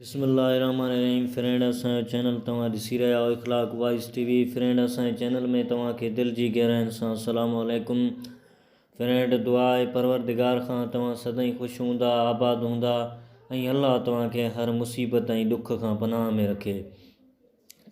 بسم الله الرحمن الرحيم فرينڊ اسان جو چينل توهان ڏسي رهيا آهيو Akhlaq wise T V friend اسان جي چينل ۾ توهان کي دل جي گهراين سان السلام عليڪم فرينڊ دعا آهي پروردگار کان توهان سدائين خوش هوندا آباد هوندا ۽ الله توهان کي هر مصيبت ۽ ڏک کان پناهه ۾ رکي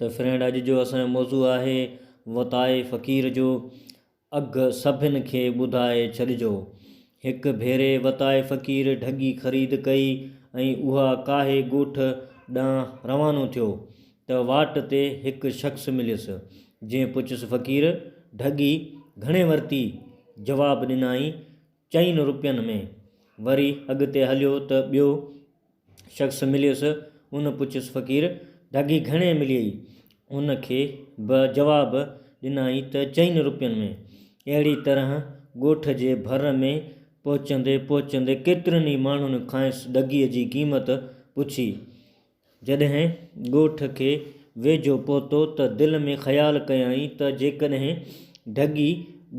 ته فرينڊ اڄ جو اسان جو موضوع آهي وتائي فقير جو اگھ سڀن کي ٻڌائي ڇڏجو. هڪ ڀيري وتائي فقير ڍڳي خريد ڪئي ۽ اها ڪاهي ڳوٺ ڏانهن روانو ٿيو ته واٽ تي هڪ شخص مليس، جنهن پڇيس فقير ڍڳي گهڻي ورتي؟ جواب ڏنائين چئن روپين ۾. وري اڳتي هليو ته ٻيو شخص مليس، ان پڇيس فقير، ڍڳي گهڻي مليئي؟ ان کي به جواب ڏنائين ته چئن روپين ۾. اهڙي طرح ڳوٺ جي ڀر ۾ پهچندي پهچندي ڪيترن ئي ماڻهن کانئس ڍڳي جي قيمت پڇي. جڏهن ڳوٺ کي ويجهو پهتو ته دل ۾ خيال ڪيائين ته جيڪڏهن ڍڳي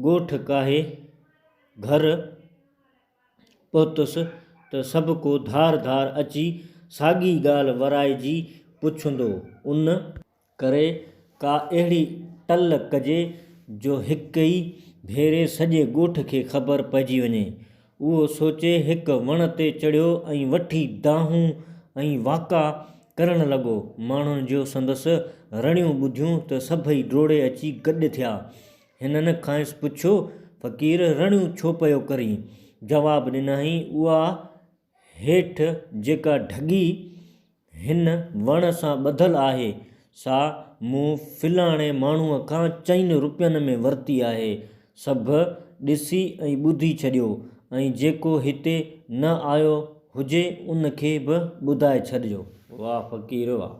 ڳوٺ ڪاهي گهر پهتس ته سڀ ڪو ڌار ڌار اچي ساڳي ڳالهه ورائجي پڇندو. ان. ڪري ڪا اهڙي ٽل ڪجي جو هڪ ئي ڀيري سڄي ڳوٺ کي خبر پئجي وڃي. اهو سوچي هڪ وڻ تي چڙهيو ۽ وٺي دانهون ۽ واڪا ڪرڻ لڳو. ماڻهن جو سندس رڙيون ٻڌيون ته سڀئي ڊوڙي اچي گڏ ٿيا. هنن کانئس پڇيو، فقير رڙيون ڇو پيو ڪرين؟ جواب ڏنائين، اها هيٺ جيڪا ڍڳي هن وڻ سان ٻڌل آهي، سا مون فلاڻي ماڻهوء کان چئن روپين ۾ ورتي آهي. سڀ ڏسي ۽ ٻڌي ڇڏيو، ۽ جيڪو هتي نه آيو هجي، ان کي به ٻڌائي ڇڏجو. واهه فقير واهه.